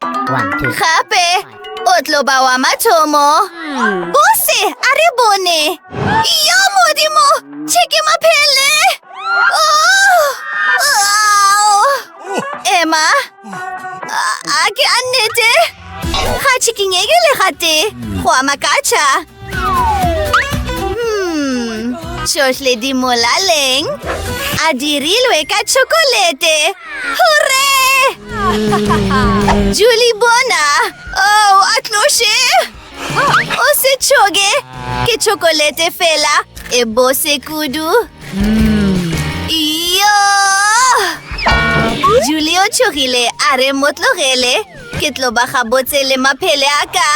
Gape o tlo ba wa mathomo. Bose, a re bone. Yo modimo, tšheke maphele. Oh! Emma, a ke a nnete. Ga tšhikinyeke le gate. Go a makatšha. Hmm, tšohle di molaleng a dirilwe ka tšhokolete. Hurre! Julie bona! Oh, a tloše! O se tšhoge! Ke tšhokolete fela e bose kudu. Yo! Julie o tšhogile a re mo tlogele. Ke tlo ba gabotse le maphele a ka.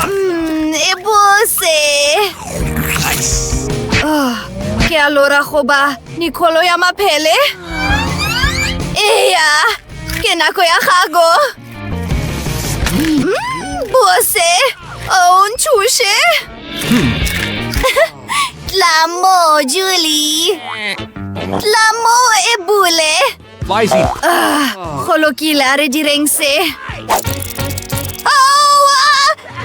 Mm, e bose. Oh, ke a lora goba nikholo ya maphele? Eya, ke nako ya gago. Mm, bose, o oh, ntšhuše. Hmm. Tla mo, Julie. Tla mo e bule. Vizy. Ah, go lokile a re direng se. Aowa!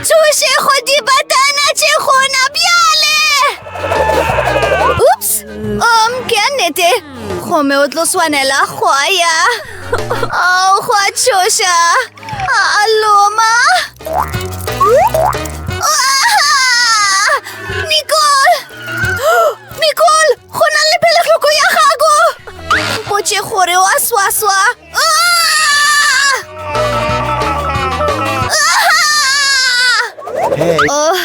Thuše go dibatana tše gona bjale! Ups! Um, ke a nnete. Gomme o tlo swanela go ya. Oh, go a tšhoša. Aloma! Nicole! Nicole! Go na le peletlhoko ya gago! Mpotše gore wa swaswa! Hey. Oh,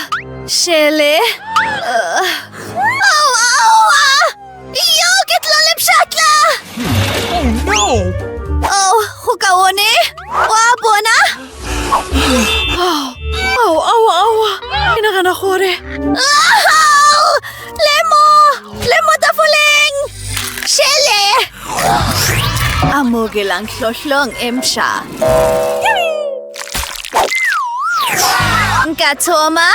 Shele! Uh. Yo, ke tla le pšhatla! Oh, no! Oh, go ka one? Wa bona? Oh, oh, oh, oh, ke nagana gore... Oh, lemo! Lemo tafoleng! Shele! Amogelang hlohlong e mša. Nka thoma?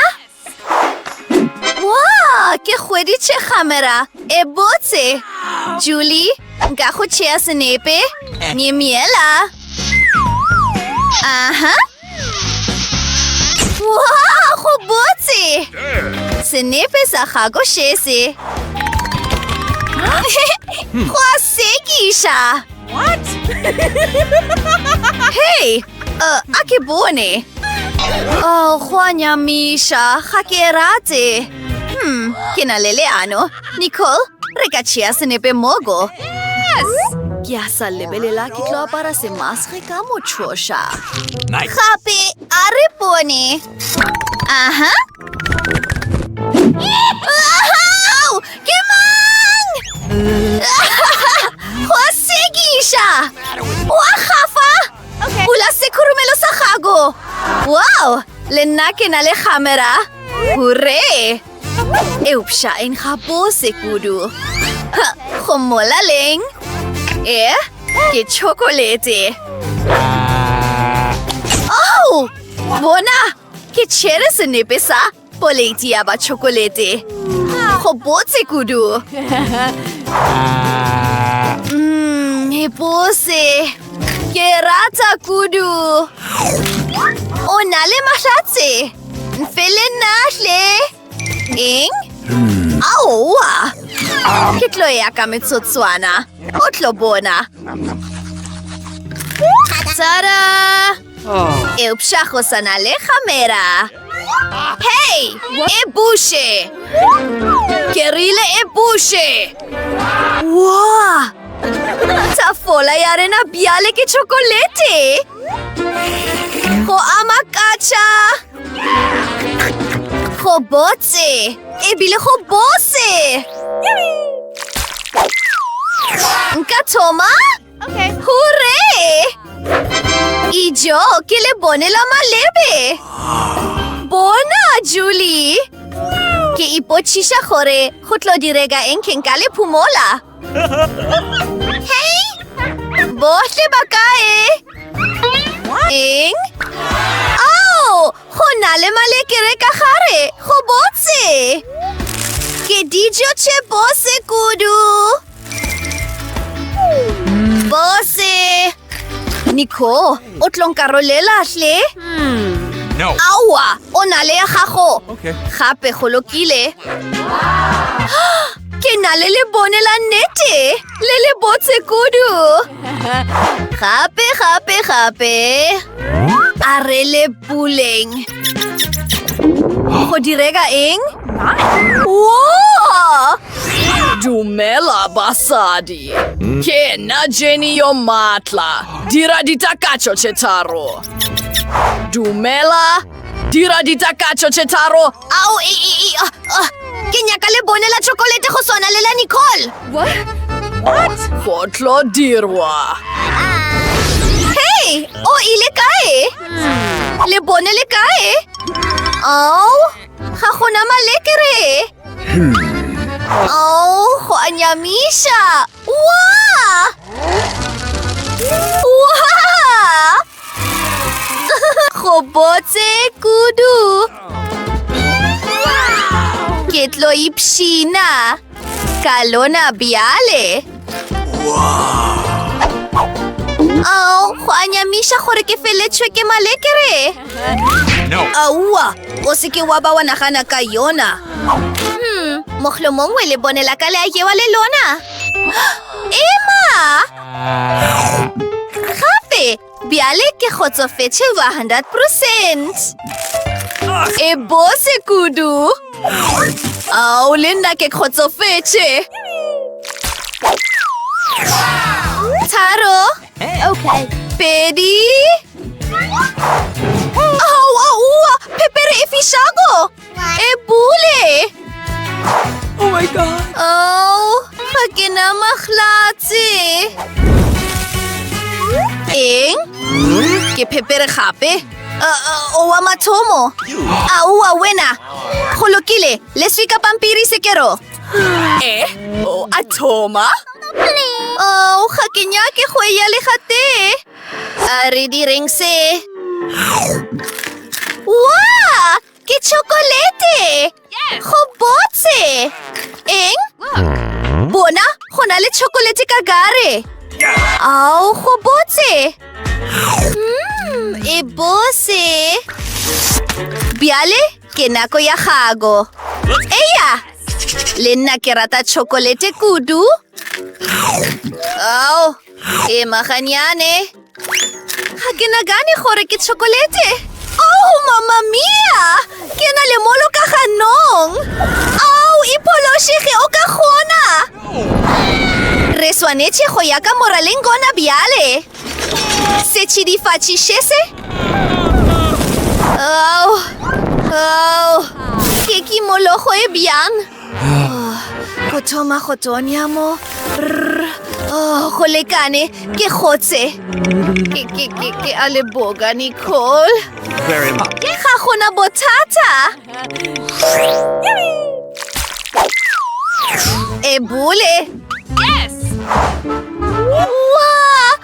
Wow, ke hweditše kgamera e botse. Julie, nka go tšea senepe? Nyemiela. Aha. Wow, go botse. Senepe sa gago šese. Go a sekiša. What? hey! Uh, a ke bone. Oh, gwa nyamisha, ga ke e rate. Hmm, ke na le leano. Nicole, re ka tšea senepe mogo. Yes! Ke a sa lebelela ke tlo apara semasge ka motšhoša. Nice. Gape, a re bone. Aha, Ke mang? Go sekiša! Wa gafa! Bula sekhurumelo sa gago! Wow! Le nna ke na le kgamera! Hure! Eupša e nkga bose kudu. Go mola leng? E, ke chokolete. Oh! Bona! Ke tšere senepe sa poleti ya ba tšhokolete. Go botse kudu. Mmm, e bose. Ke rata kudu. O na le mahlatse. Mfele nahle. Eng? Aowa! Ke tlo ya ka metsotswana. O tlo bona. Tada! Eupša go sa na le gamera. Hei! E buše! Ke rile e buše! Woa! Tafola ya rena bjale ke chokolete! Go a makatša! Go botse! Ebile go bose! Nka thoma? Okay. Hure! Ijo, ke le bone la malebe! Bona, Julie! Ke ipochiša gore go tlo direga eng keng ka le phumola. Hei! Bohle ba kae? Eng? Ao! Go na le malekere ka gare! Go botse! Ke dijo tše bose kudu! Bose! Nico, o tlonkarolela hle? No. Aowa, o na le ya gago. Okay. Gape go lokile. Ke na le lebone la nnete le le botse kudu. Gape, gape, gape. A re le puleng. Go direga eng? Wow! Dumela basadi. Ke na Jenny yo matla. Dira ditakatšo tše tharo. Dumela. Dira ditakatšo tše tharo. Ao, e, e, e, uh, uh, ke nyaka le bone la chocolate go swana le la Nicole. What? What? Go tlo dirwa. Hey, o ile kae? Le bone le kae? Ao, ga gona malekere. Hmm. Ao, go a nyamisha. Waa! Waa! Go botse kudu! Ke tlo ipshina ka lona bjale. Ao, go a nyamiša gore ke feletšhwe ke malekere. Aua, o se ke wa ba wa nagana ka yona. Hmm, moglo mongwe le bonela ka le a jewa le lona. Emma! Gape, bjale ke kgotsofetše 100 percent. E bose kudu. Ao, le nna ke kgotsofetše. Tharo. Okay. Pedi. Ao, aowa, phepere e fišago. E bule! Oh my god! Oh, ga ke na maglatse! Eng? Ke phepere gape? Uh, uh, o wa mathomo! A o wa wena! Go lokile, le swika pampiri sekero! Eh? O a thoma? Oh, ga ke nyake go eya le gatee! A re direng se. Wa! Ke chokolete! Go botse! Eng? Bona, go na le chokolete ka gare. Ao, go botse! Mmm, e bose! Bjale, ke nako ya gago. Eya! Le nna ke rata chokolete kudu. Ao, Ema ganyane. Ga ke nagane gore ke chokolete. Oh, mama mia! Ke na le molo ka ganong. Au, e phološege o ka kgona. Re swanetše go ya ka moraleng gona bjale. Setšhidifatši še se? Au, au, ke kimologo e bjang. go thoma go tonya mo oh, go lekane ke kgotse ke a leboga nicole ke ga gona bothata e bole yes! Wow!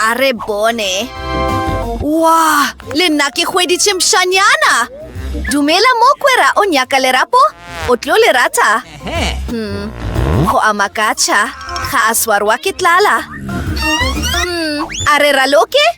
A re bone. Wa, le nna ke hweditše mšanyana. Dumela mokwera o nyaka lerapo, o tlo le rata. Hmm. Go a makatšha, ga a swarwa ke tlala. Hmm. A re raloke?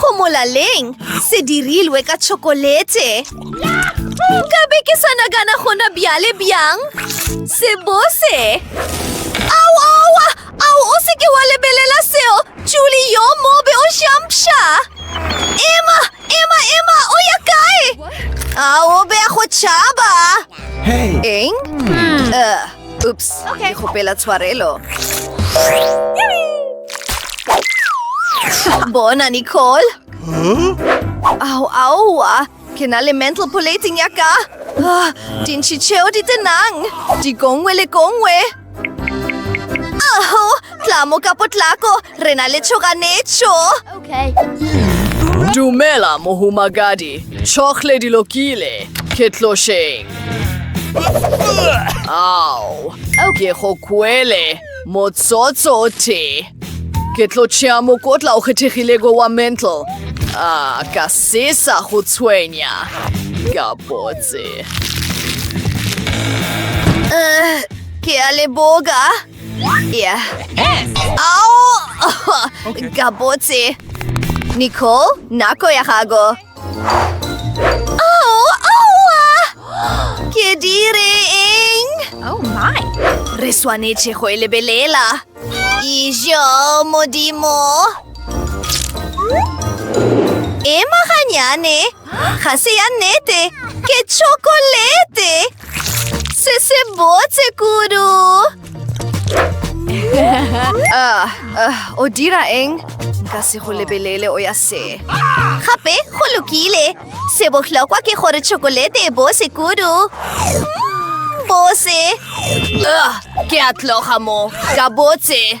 Go molaleng, se dirilwe ka tšhokolete. Nka be ke sa nagana gona bjale bjang. Se bose. Au, aowa! Au, o se ke wa lebelela seo! Juli yo mobe o šampša! Ema! Ema! Ema! O ya kae? Au, o be a go tšhaba! Eng? Hmm. Uh. Oops, okay. ke kgopela tshwarelo. Bona, Nicole. Huh? Au, aua. Ke na le mental polating ya ka. Ah, dintši tšeo di tenang. Di gongwe le gongwe. Aho, Tlamo ka potlako, re na le tšhoganetšo. Okay. Dumela, mohumagadi. Tšhogle di lokile. Ke tlošeng. Ao, ke go kwele. Motsotso o tee. Ke tlo tšea mokotla o kgethegilego wa mental. A, ka sesa go tshwenya. Ka botse. Uh, ke a leboga. Yeah. Ao! Gabotse. Nicole, nako ya gago. Au! Aua! Ke dire eng? Oh my! Re swanetše go e lebelela. Ijo, modimo! Ema ganyane! Ga se ya nnete! Ke chocolate! Se se botse kudu! Ah, ah, o dira eng? Nka se go lebelele o ya se. Gape go lokile. Se bohlokwa ke gore chokolete e bose kudu. Bose! Ah, ke a tloga mo. Ka botse!